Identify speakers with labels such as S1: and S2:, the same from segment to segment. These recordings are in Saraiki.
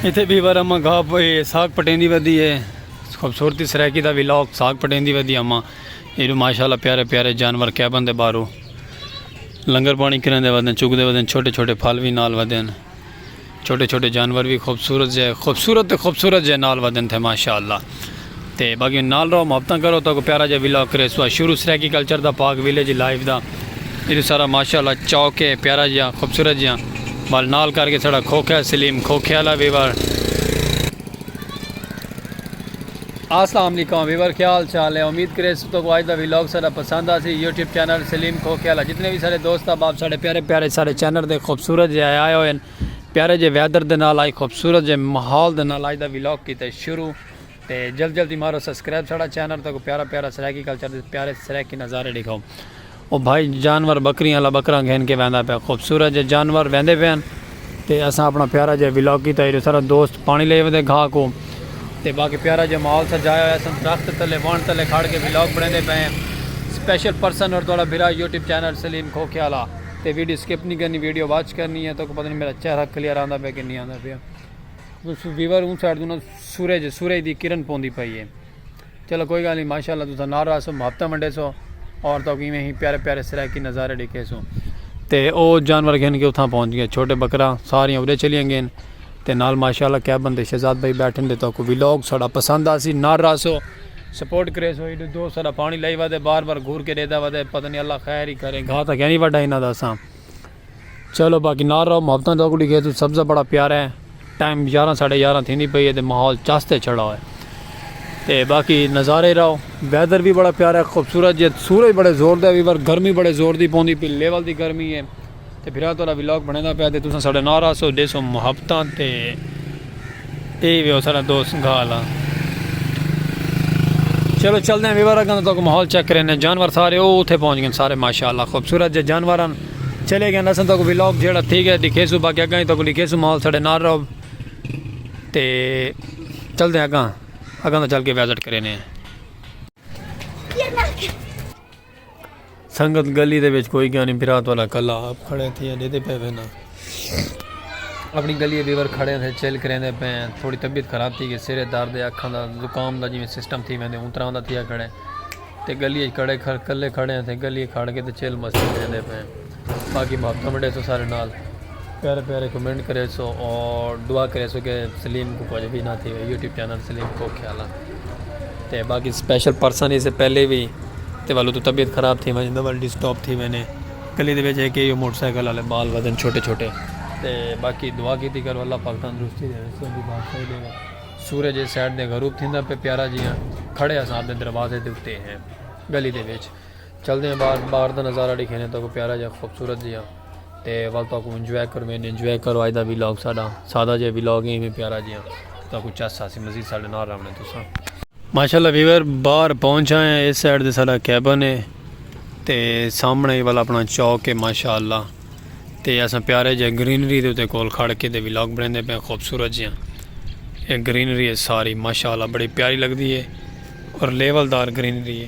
S1: اتھے بی وار اماں گھا ساگ پٹیندی ودی ہے خوبصورتی سرائیکی دا ویلاگ ساگ پٹیندی ودی اماں ایڈو ماشاءاللہ پیارے پیارے جانور کیا بندے بارو لنگر پانی کرن دے ودن چک دے ودن چھوٹے چھوٹے پھل وی نال ودن چھوٹے چھوٹے جانور وی خوبصورت جے خوبصورت خوبصورت جے نال ودن تھے ماشاءاللہ تے باقی نال رہو محبتاں کرو تاکو پیارا جا ویلا کرے سوا شروع سرائیکی کلچر دا پاک ویلے جی لائف دا ایتو سارا ماشاءاللہ چوکے پیارا جا خوبصورت جا بال نال کر کے سڑا کھوکھیا سلیم کھوکھیا اللہ ویور السلام علیکم ویور کیا حال چال ہے امید کرے سو تو کو آج دا ویلوگ سارا پسند آ سی یوٹیوب چینل سلیم کھوکھیا اللہ جتنے بھی سارے دوست احباب سارے پیارے پیارے سارے چینل دے خوبصورت جائے آئے ہوئے ہیں پیارے جے ویدر دے نال آئی خوبصورت جے ماحول دے نال آئی دا ویلاگ کیتا ہے شروع تے جلد جلد ہی مارو سبسکرائب ساڑا چینل تک پیارا پیارا سرائیکی کلچر دے پیارے سرائیکی نظارے دکھاؤ او بھائی جانور بکریاں اللہ بکراں گھن کے ویندا پیا خوبصورت جے جانور ویندے پے ہیں تے اساں اپنا پیارا جے ویلاگ کیتا ہے سارا دوست پانی لے ویندے گھا کو تے باقی پیارا جے ماحول سجایا ہویا سن درخت تلے وان تلے کھڑ کے ویلاگ بنے دے پے ہیں سپیشل پرسن اور دوڑا بھرا یوٹیوب چینل سلیم کھوکھے والا تے ویڈیو سکپ نی کرنی ویڈیو واچ کرنی ہے تاکہ پتہ نہیں میرا چہرہ کلیئر آندا پیا کہ نہیں آندا پیا تسو ویور اون سائیڈ تو سورج سورج دی کرن پوندی پئی ہے چلو کوئی گل نہیں ماشاءاللہ تسا نال رہا سو محبتاں ونڈے سو اور تو کہ ہی پیارے پیارے سرائیکی نظارے ڈیکھے سو تے او جانور گھن کے اتھاں پہنچ گئے چھوٹے بکرا ساریاں اڑے چلیاں گئے تے نال ماشاءاللہ کیا بندے شہزاد بھائی بیٹھن دے تہاکوں ویلاگ ساڈا پسند آسی نال رہسو سپورٹ کریسو ایڈو دوست ساڈا پانی لائی ودے بار بار گھور کے ڈیدا ودے پتہ نہیں اللہ خیر ہی کرے گھا تاں کینی وڈا انہاں دا ساں چلو باقی نال رہو محبتاں تہاکوں ڈیکھے تو سبزہ بڑا پیارا ہے ٹائم یاراں ساڈے یاراں تھیندی پئی ہے تے ماحول چس تے چھڑا ہوئے تے باقی نظارے رہو ویدر بھی بڑا پیارا ہے خوبصورت جے سورج بڑے زور دے وی بر گرمی بڑے زور دی پوندی پی لیول دی گرمی ہے تے بھرا تہاڈا ولاگ بنڑیندا پیا تے تساں ساڈے نال ہاسو ڈیسو محبتاں تے اے ویو ساڈا دوست گھال آ چلو چلدے ہیں ویور اگاں تو ماحول چیک کریں نے جانور سارے او اوتھے پہنچ گئے سارے ماشاءاللہ خوبصورت جے جانور ہن چلے گئے اساں تو ویلوگ جیڑا ٹھیک ہے دکھے سو باقی اگاں تو دکھے سو ماحول ساڈے نال رہو تے چلدے ہیں اگاں اگاں تو چل کے وزٹ کریں نے سنگت گلی دے وچ کوئی گیانی برا تہاڈا کلا آپ کھڑے تھیے ڈیدے پے وینا اپنی گلی بیور کھڑے تھے چل کریندے پے تھوڑی طبیعت خراب تھی گئے سرے درد اکھاں دا زکام دا جویں سسٹم تھی ویندے اون طرح دا تھیا کھڑے تے گلی اچ کڑے کھڑے کلے کھڑے تھے گلی کھڑ کے تے چل مستی کریندے پے۔ باقی محبتاں ونڈیسو سارے نال پیارے پیارے کمنٹ کریسو اور دعا کریسو کہ سلیم کو کچھ بھی نہ تھی یوٹیوب چینل سلیم کو خیال تے باقی سپیشل پرسن اسے پہلے بھی تے والو تو طبیعت خراب تھی وجہ دے والڈی سٹاپ تھی وینے کلی دے وجہ کہ یہ موٹر سائیکل والے بال وزن چھوٹے چھوٹے تے باقی دعا کی تھی کرو اللہ پاک تندرستی دے رسو دی بات صحیح دے سورج سیڈ دے غروب تھی پہ پیارا جی ہیں کھڑے ہیں صاحب دے دروازے دے اتے ہیں گلی دے ویچ چلدے ہیں باہر باہر دا نظارہ ڈیکھینے تاکو پیارا جا خوبصورت جیا تے ول تاکو انجوائے کروینے انجوائے کرو آج دا ویلاگ ساڈا سادہ جے ویلاگ ہیں میں پیارا جیا تاکو چس ساسی مزید ساڈے نار رہنے تو سا ماشاءاللہ ویور باہر پہنچ آئے ہیں اس سائیڈ دے ساڈا کیبن ہے تے سامنے ہی والا اپنا چوک ہے ماشاءاللہ تے اساں پیارے جے گرینری دے تے کول کھڑ کے دے ویلاگ بریندے پہ خوبصورت جیا ایک گرینری ہے ساری ماشاءاللہ بڑی پیاری لگ دی ہے اور لیول دار گرینری ہے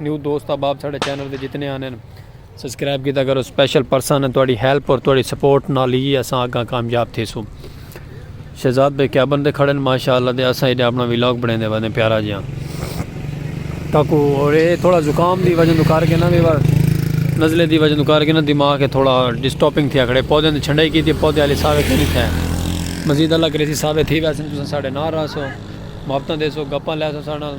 S1: نیو دوست احباب ساڈے چینل دے جتنے آنے ہیں سبسکرائب کیتا کرو سپیشل پرسن ہے تہاڈی ہیلپ اور تہاڈی سپورٹ نال ہی اساں اگاں کامیاب تھیسوں شہزاد بھائی کیبن تے کھڑے ہیں ماشاءاللہ تے اساں ایڈے اپنا ولاگ بنیندے ودے پیارا جیاں تاکو اور اے تھوڑا زکام دی وجہ تو کر کے نا ویور نزلے دی وجہ تو کر کے نا دماغ ہے تھوڑا ڈسٹاپنگ تھیا کھڑے پودے نے چھنڈائی کیتی پودے والے سارے کیتی تھے مزید اللہ کرے سی سارے تھی ویسے تساں ساڈے نال رہسو محبتاں دیسو گپاں لیسو ساڈے نال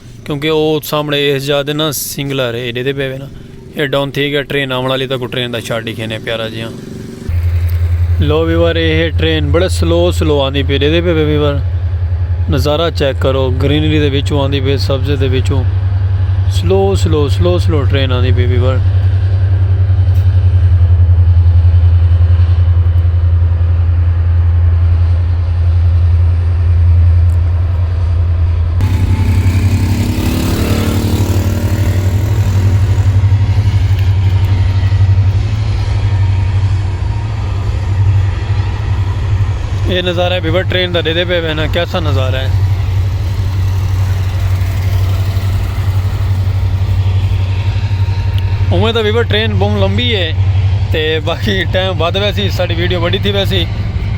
S1: کیونکہ او سامنے اس جا دے نا سنگلر ہے ایڈے دے پے نا اے ڈاؤن تھی گیا ٹرین آمن والی تک ٹرین دا شاٹ دکھے نے پیارا جی ہاں لو ویور اے ہے ٹرین بڑے سلو سلو آندی پی ایڈے دے پے ویور نظارہ چیک کرو گرینری دے وچوں آندی پی سبز دے وچوں slow slow slow slow train آندی پی ویور یہ نظارہ ہے بیور ٹرین دا دے دے پہ بہنا کیسا نظارہ ہے امید ہے بیور ٹرین بہن لمبی ہے تے باقی ٹائم بات ویسی ساڑی ویڈیو بڑی تھی ویسی